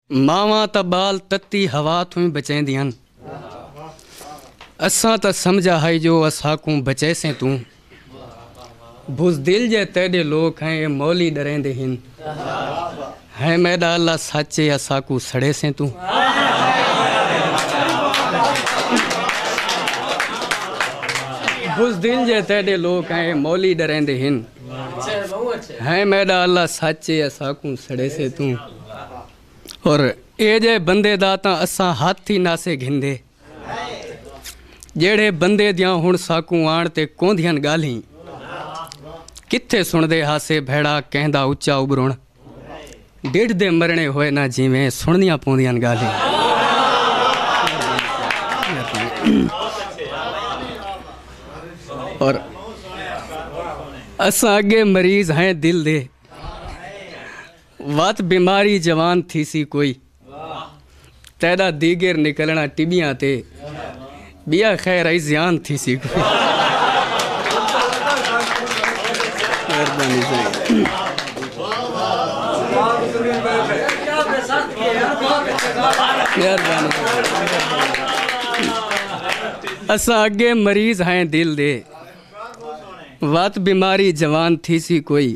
ماواں تاں ٻال تتی ہوا توں ہی بچیندی ہن۔ اساں تاں سمجھا ہئی جو اساکوں بچیسیں توں۔ بزدل جئے تیڈے لوک ہیں اے مولی ڈریندے ہن۔ ہیں میڈا اللہ سچ اے اساکوں سڑیسیں توں۔ اور اے جے بندے دا تاں اساں ہتھ ہی ناسے گھندے جیڑھے بندے دیاں ہن ساکوں آن تے کوندھیاں گالھیں کتھے سندے ہاسے بھیڑا کہندا اچا ابرن ڈیڈھ دے مرنے ہوئے نہ جیویں سندیاں پوندیاں گالھیں اور اساں اگے مریض ہیں دل دے وت بیماری جوان تھیسی کوئی تیڈا دیگر نکلنا ٹبیاں تے بیا خیر ائی زیان تھیسی کوئی اساں اگے مریض ہیں دل دے وت بیماری جوان تھیسی کوئی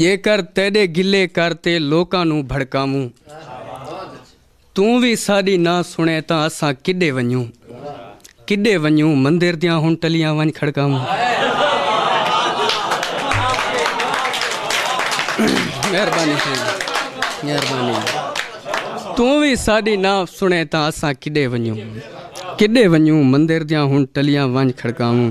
جیکر تیݙے گلے کر تے لوکاں نوں بھڑکاووں توں وی ساݙی نہ سݨیں تاں اساں کݙے ونڄوں کݙے ونڄوں مندر دیاں ہݨ ٹلیاں ونڄ کھڑکاووں مہربانی مہربانی توں وی ساݙی نہ سݨیں تاں اساں کݙے ونڄوں کݙے ونڄوں مندر دیاں ہݨ ٹلیاں ونڄ کھڑکاووں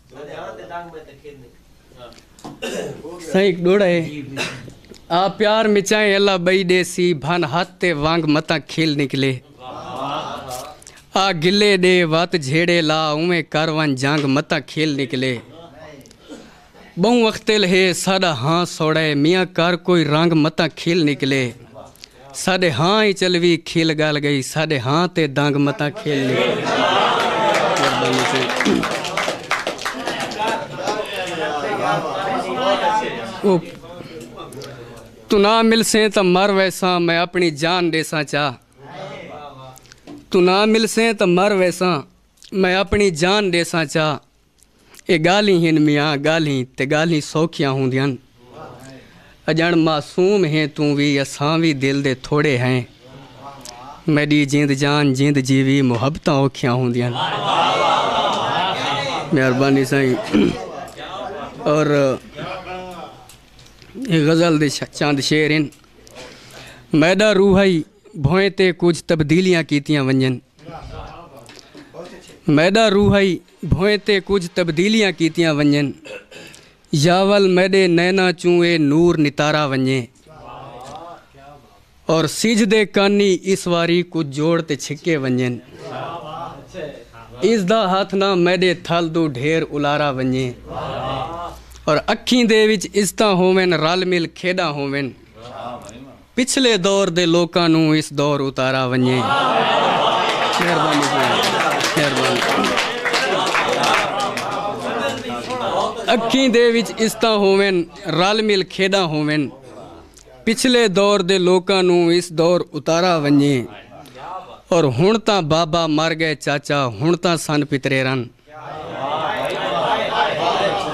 سائیں ڈوڑا ہے آ پیار مچائیں اللہ بئی دے سی بھن ہاتھ تے وانگ متاں کھل نکلے آ گلے دے وات جھیڑے لا اویں کر ون جانگ متاں کھل نکلے بہوں وقتل ہے ساڈا ہاں سوڑے میاں کر کوئی رنگ متاں کھل نکلے ساݙے ہاں ای چلوی کھل ڳالھ ڳئی ساݙے ہاں تے دانگ متاں کھیل نکل توں نہ ملسیں تاں مر ویساں میں اپنی جان ݙیساں چا توں نہ ملسیں تاں مر ویساں میں اپنی جان ݙیساں چا اے ڳالھیں ہن میاں ڳالھیں تے ڳالھیں سوکھیاں ہوندیاں اڄݨ معصوم ہیں توں وی اساں وی دل دے تھوڑے ہیں میݙی جند جان جند جیوی محبتاں اوکھیاں ہوندیاں مہربانی سائیں اور اے غزل دے چند شعر ہیں میݙا روحائی بھوئیں تے کچھ تبدیلیاں کیتیاں ونجن میݙا روحائی بھوئیں تے کجھ تبدیلیاں کیتیاں ونجن یاول میڈے نیناں چوں اے نور نتارا ونجے اور سجھ دے کانی اس واری کجھ جوڑ تے چھکے ونجن اس دا ہتھ نہ میڈے تھل دو ڈھیر الارا ونجے اور اکھیں دے وچ عزتاں ہوون رل مل کھیڈاں ہوون پچھلے دور دے لوکاں نوں اس دور اتارا ونجے۔ مہربانی ساݨی مہربانی۔ اکھیں دے وچ استاں ہوون رل مل کھیݙاں ہوون۔ پچھلے دور دے لوکاں نوں اس دور اتارا ونجے۔ اور ہݨ تاں بابا مر ڳئے چاچا ہݨ تاں سن پتریرن۔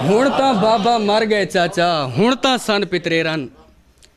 ہݨ تاں بابا مر ڳئے چاچا ہݨ تاں سن پتریرن۔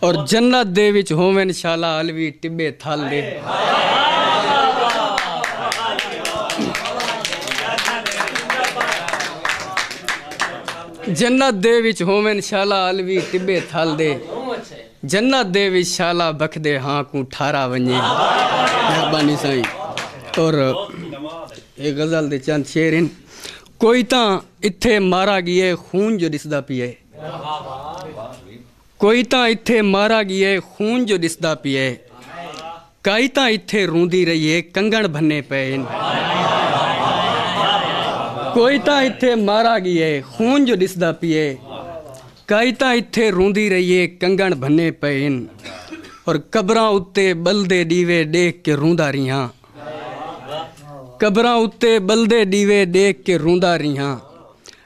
اور جنت دے وچ ہوون شالا علوی ٹبے تھل دے جنت دے وچ شالا بکھدے ہاں کوں ٹھارا ونجے مہربانی سائیں اور اے غزل دے چند شعر ہیں کوئی تاں اتھے مارا گیے خون جو ڈسدا پیے کوئی تاں اتھے مارا ڳیئے خون جو ݙسدا پیئے کائی تاں اتھے روندی رہیئے کنگݨ بھنے پئے ہن کوئی تاں اتھے مارا ڳیئے خون جو ݙسدا پیئے کائی تاں اتھے روندی رہیئے کنگݨ بھنے پئے ہن اور قبراں اتے ٻلدے ݙیوے ݙیکھ کے روندا ریہاں قبراں اتے ٻلدے ݙیوے ݙیکھ کے روندا ریہاں۔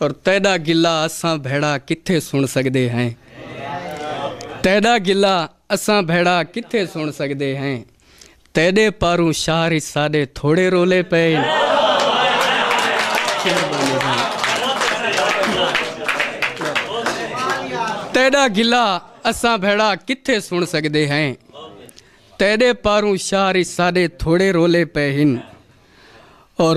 اور تیڈا گلہ اساں بھیڑا کتھے سن سگدے ہیں تیڈا گلہ اساں بھیڑا کتھے سن سگدے ہیں تیڈے پاروں شہر اچ ساڈے تھوڑے رولے پئے تیڈا گلہ اساں بھیڑا کتھے سن سگدے ہیں تیڈے پاروں شہر اچ ساڈے تھوڑے رولے پئے ہن اور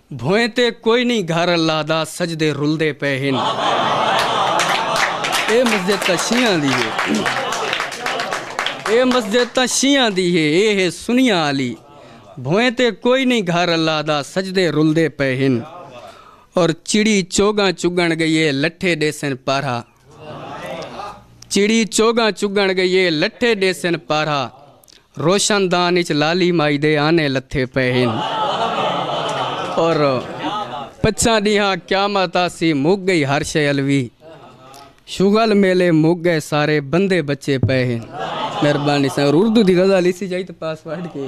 بھوئیں تے کوئی نئیں گھر اللہ دا سجدے رلدے پئے ہن اے مسجد تاں شیعاں دی ہے اے مسجد تاں شیعاں دی ہے اے ہے سنیاں آلی بھوئیں تے کوئی نئیں گھر اللہ دا سجدے رلدے پئے ہن اور چڑی چوگاں چگن گئی ہے لٹھے ڈیسن پارھا چڑی چوگاں چگن گئیے لٹھے ڈیسن پارا روشن دان اچ لالی مائی دے آنے لتھے پے ہن اور پچھاں ڈیہاں قیامت آسی مک گئی ہر شے الوی شغل میلے مک گئے سارے بندے بچے پے ہن مہربانی سر اردو دی غزل اسی جائی تے پاسورڈ کے